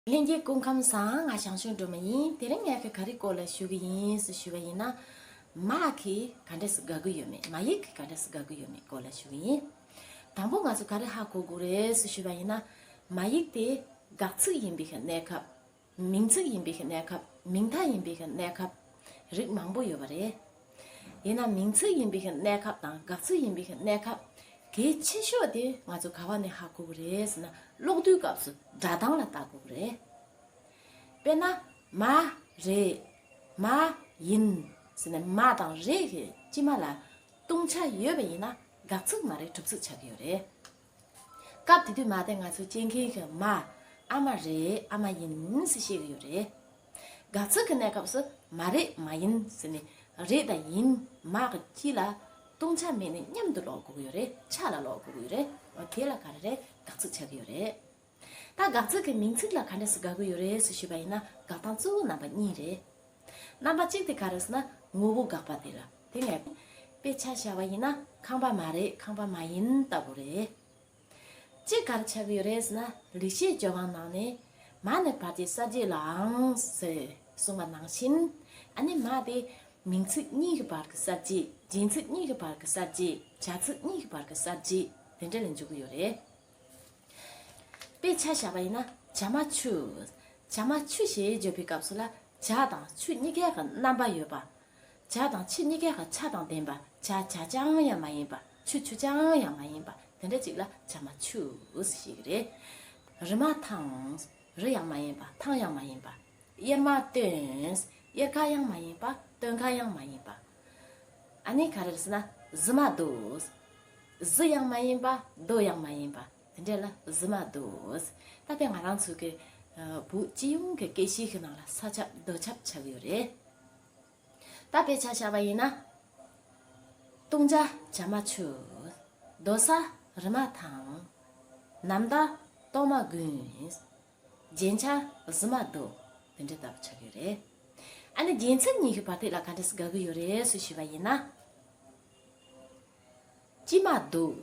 གླིང་རྒྱལ་སྐུ་ཁམས་བཟང་ང་ཞང་ཞུང་སྒྲོལ་མ་ཡིན་དེ་རིང་ངས་ཁྱེད་ག་རིགས་སྐོར་ལ་ཞུ་གི་ཡིན་སུ་ཞུ་བ་ཡིན་ན། མ་གི་ག་འདྲས་སུ་དགའ་གི་ཡོད་མེད་མ་ཡིག་གི་ག་འདྲས་སུ་དགའ་གི་ཡོད་མེད་སྐོར་ལ་ཞུ་གི་ཡིན། དང་པོ་ང་ཚོ་ག་རིགས་ཧ་གོ་གི་རེད་སུ་ཞུ་བ་ཡིན་ན། མ་ཡིག་དེ་དགག་ཚིག་ཡིན་པའི་གནས་སྐབས། མིང་ཚིག་ཡིན་པའི་གནས་སྐབས་མིང་མཐའ་ཡིན་པའི་གནས་སྐབས། རིགས་མང་པོ་ཡོད་པ་རེད། ཡིན་ནམ་མིང་ཚིག་ཡིན་པའི་གནས་སྐབས་དང་དགག་ཚིག་ཡིན་པའི་གནས་སྐབས། གལ་ཆེ་ཤོས་དེ་ང་ཚོ་ག་བ་ནས་ཧ་གོ་གི་རེད་ཟེར་ན་ཀློག་བསྡུའི་སྐབས་སུ་སྒྲ་གདངས་ལ་བལྟ་དགོས་ཀྱི་རེད། དཔེར་ན། མ། རེད། མ། ཡིན། ཟེར་ནས་མ་དང་རེད་ཀྱི་སྤྱི་མ་ལ། ལྟུང་བྱ་ཡོད་པ་ཡིན་ན་དགག་ཚིག་མ་རེད་གྲུབ་ཚིག་ཆགས་ཀྱི་ཡོད་རེད། སྐབས་དེ་དུས་མ་དེ་ང་ཚོ་སྐྱེ་མཁན་གྱི་མ་ཨ་མ་རེད་ཨ་མ་ཡིན་ཟེར་བཤད་ཀྱི་ཡོད་རེད། དགའ་ཚོར་གྱི་གནས་སྐབས་སུ་མ་རེད་མ་ཡིན་ཟེར་ནས་རེད་དང་ཡིན་མ་གི་དཀྱིལ་ལ་ལྟུང་བྱ་མེད་ནས་མཉམ་དུ་ལོག་དགོས་ཀྱི་ཡོད་རེད་ཆ་ལ་ལོག་དགོས་ཀྱི་ཡོད་རེད་དེ་ལ་ག་རེ་རེད་དགའ་ཚོར་ཆགས་ཀྱི་ཡོད་རེད། ད་དགག་ཚུལ་གྱི་མིང་ཚིག་ལ་ག་འདྲས་སུ་དགག་གི་ཡོད་རེད་ཟེར་ཞུས་པ་ཡིན་ན་དགག་སྟངས་གཙོ་བོ་རྣམ་པ་གཉིས་རེད། རྣམ་པ་གཅིག་དེ་ག་རེད་ཟེར་ན་ངོ་བོ་དགག་པ་དེ་རེད། དེ་ངས་དཔེ་ཆ་བཞག་པ་ཡིན་ན་ཁང་པ་མ་རེད་ཁང་པ་མ་ཡིན་ལྟ་བུ་རེད། གཅིག་ག་རེ་ཆགས་ཀྱི་ཡོད་རེད་ཟེར་ན་ལེགས་བཤད་ལྗོན་དབང་ནང་ནས། མ་ནི་བར་གྱི་གསར་བརྗེ་ལའང་ཟེར་གསུངས་པ་ནང་བཞིན། ཨ་ནི་མ་དེ་མིང་ཚིག་གཉིས་ཀྱི་བར་གྱི་གསར་བརྗེ་སྦྱིན་ཚིག་གཉིས་ཀྱི་བར་གྱི་གསར་བརྗེ་བྱ་ཚིག་གཉིས་ཀྱི་བར་གྱི་གསར་བརྗེ་དེ་འདྲ་ལས་འབྱུང་གི་ཡོད་རེད། དཔེ་ཆ་བཞག་པ་ཡིན་ན་བྱ་མ་ཆུ། བྱ་མ་ཆུ་ཞེས་བརྗོད་པའི་སྐབས་སུ་ལ་བྱ་དང་ཆུ་གཉིས་ཀའི་ཁར་རྣམ་པ་ཡོད་པ། བྱ་དང་ཆུ་གཉིས་ཀའི་ཁར་ཆ་དང་ལྡན་པ་བྱ་བྱ་ཅང་ཡང་མ་ཡིན་པ་ཆུ་ཆུ་ཅང་ཡང་མ་ཡིན་པ་དེ་འདྲ་ཅིག་ལ་བྱ་མ་ཆུ་ཞེས་ཀྱི་རེད། རི་མ་ཐང། རི་ཡང་མ་ཡིན་པ་ཐང་ཡང་མ་ཡིན་པ། དབྱེར་མ་སྟོན། དབྱེར་ཁ་ཡང་མ་ཡིན་པ་སྟོན་ཁ་ཡང་མ་ཡིན་པ། ཨ་ནི་ག་རེར་ཟེར་ན་གཟི་མ་རྡོ། གཟི་ཡང་མ་ཡིན་པ་རྡོ་ཡང་མ་ཡིན་པ་དེ་འདྲས་ལ་གཟི་མ་རྡོ། ད་ལྟའི་ང་རང་ཚོ་གི་བོད་སྤྱི་ཡོངས་ཀྱི་སྐད་གཤིས་ཀྱི་ནང་ལ་ས་ཆ་རྡོ་ཆབ་ཆགས་ཡོད་རེད། ད་དཔེ་ཆ་བྱ་བ་ཡིན་ན། བཏུང་བྱ་བྱ་མ་ཆུ། རྡོ་ས་རི་མ་ཐང། ནམ་ཟླ་སྟོང་མ་དགུན། རྒྱན་ཆ་བཟི་མ་འདུག་དེ་འདྲའི་ལྟ་བུ་ཆགས་ཡོད་རེད། ཨ་ནི་རྒྱལ་མཚན་ཉི་ཤུ་བར་ཐིག་ལ་ག་འདྲ་ཞིག་དགའ་གི་ཡོད་རེད་སུ་ཞུས་པ་ཡིན་ན། སྐྱིད་མ་འདུག།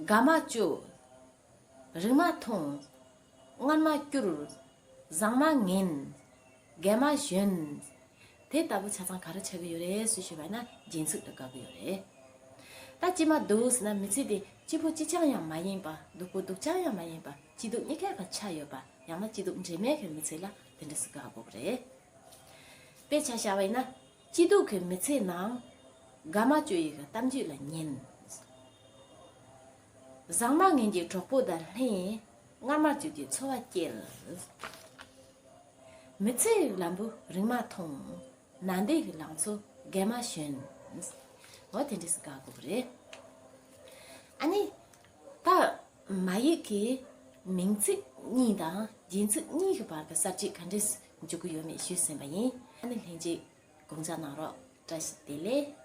དགའ་མ་བཅུག། རིང་མ་ཐུང། མངར་མ་སྐྱུར། བཟང་མ་ངན། རྒན་མ་གཞོན། དེ་ལྟ་བུ་ཆ་ཚང་ག་རེ་ཆགས་ཀྱི་ཡོད་རེད་སུས་ཤེས་པ་ཡིན་ན་སྦྱིན་ཚུལ་དུ་དགའ་གི་ཡོད་རེད། ད་ཅི་མ་འདུག་ཟེར་ན་མི་ཚེ་འདི་གཅིག་པུ་གཅིག་རྐྱང་ཡང་མ་ཡིན་པ་སྡུག་པོ་སྡུག་རྐྱང་ཡང་མ་ཡིན་པ་སྐྱིད་སྡུག་གཉིས་ཀའི་བར་ཆགས་ཡོད་པ་ཡང་ན་སྐྱིད་སྡུག་འདྲེས་མའི་གི་མི་ཚེ་ལ་དེ་འདྲ་ཟེར་དགའ་དགོས་པ་རེད། དཔེ་ཆ་བྱ་བ་ཡིན་ན་སྐྱིད་སྡུག་གི་མི་ཚེའི་ནང། དགའ་མ་བཅུ་ཡི་གི་གཏམ་རྒྱུད་ལ་ཉན། བཟང་མ་ངན་གྱི་གྲོགས་པོ་དང་ལྷན། སྔར་མ་བརྗོད་ཀྱི་འཚོ་བ་སྐྱེལ། མི་ཚེའི་ལམ་བུ་རིང་མ་ཐུང། ན་འདེགས་ལང་ཚོ་རྒས་མ་ཞོན། འོ་དེ་འདྲས་སུ་བཀག་དགོས་པ་རེད། ཨ་ནི། ད། མ་ཡིག་གི། མིང་ཚིག་གཉིས་དང་རྒྱུན་ཚིག་གཉིས་ཀྱི་བར་གྱི་གསར་བརྗེ་ག་འདྲས་སུ་འཇུག་གི་ཡོད་མེད་ཞུས་ཟིན་པ་ཡིན། ཨ་ནི་ལྷན་ཅིག་དགོངས་འཇགས་གནང་རོགས། བཀྲ་ཤིས་བདེ་ལེགས།